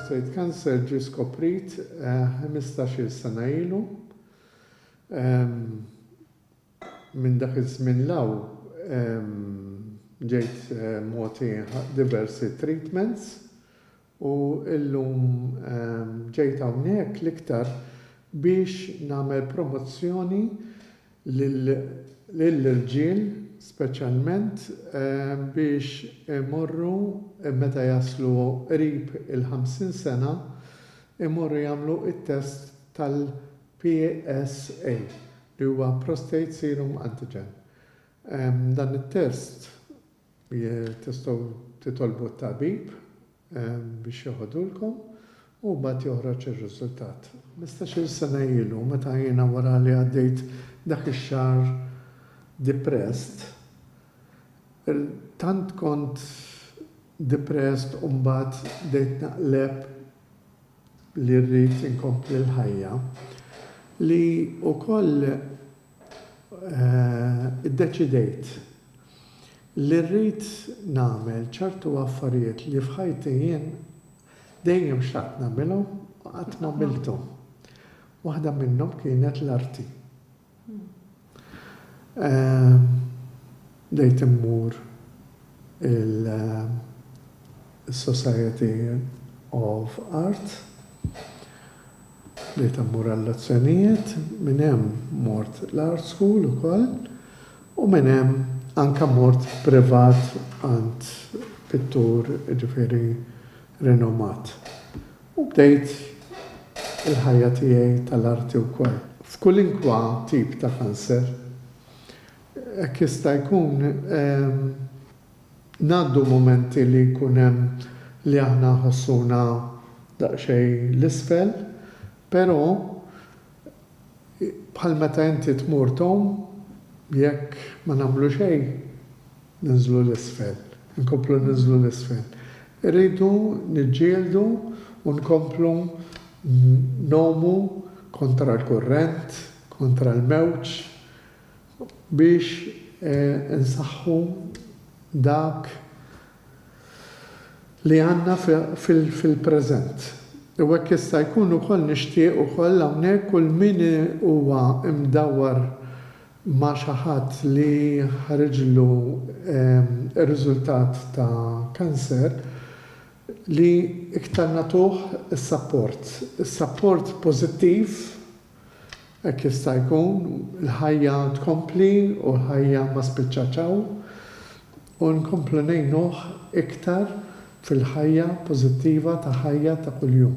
Prostate cancer ġie skoprit ħmistax-il sena ilu. Minn dak iż-żmien 'l hawn ġejt mogħti diversi treatments u llum ġejt hawnhekk l-iktar biex nagħmel promozzjoni lill-irġiel speċjalment biex imorru meta jaslu qrib il-50 sena imorru jagħmlu t-test tal-PSA li huwa Prostate Serum Antigen. Dan it-test tistgħu titolbu t-tabib. biex joħodulkom u mbagħad joħroġ ir-riżultat. Ħmistax-il sena ilu, meta jiena wara li għaddejt dak ix-xahar depressed, tant kont depressed u mbagħad bdejt naqleb li rrid inkompli l-ħajja, li wkoll Iddeċidejt li rrid nagħmel ċertu affarijiet li f'ħajti jien dejjem xtaqt nagħmilhom u qatt m'għamilthom. Waħda minnhom kienet l-arti. Bdejt immur il-Society of Art Bdejt immur għal-lezzjonijiet, minn hemm mort l-art school ukoll u minn hemm anke mort privat għand pittur jiġifieri rinomat u bdejt il-ħajja tiegħi tal-arti wkoll. F'kulinkwa tip ta' kanser. Hekk jista' jkun. Ngħaddu mumenti li jkun hemm li aħna nħossuna daqsxejn 'l isfel, però bħal meta inti tmur tgħum, jekk ma nagħmlu xejn ninżlu 'l isfel, inkomplu ninżlu 'l isfel. Irridu niġġieldu u nkomplu ngħumu kontra l-kurrent, kontra l-mewġ, biex insaħħu dak li għandna fil-preżent. U hekk jista' jkun ukoll nixtieq ukoll hawnhekk kull min huwa mdawwar ma' xi ħadd li ħariġlu r-riżultat ta' cancer li iktar nagħtuh is-sapport, is-sapport pożittiv Hekk jista' jkun, il-ħajja tkompli u l-ħajja ma spiċċat hawn, u nkomplu ngħinuh iktar fil-ħajja pożittiva ta' ħajja ta' kuljum.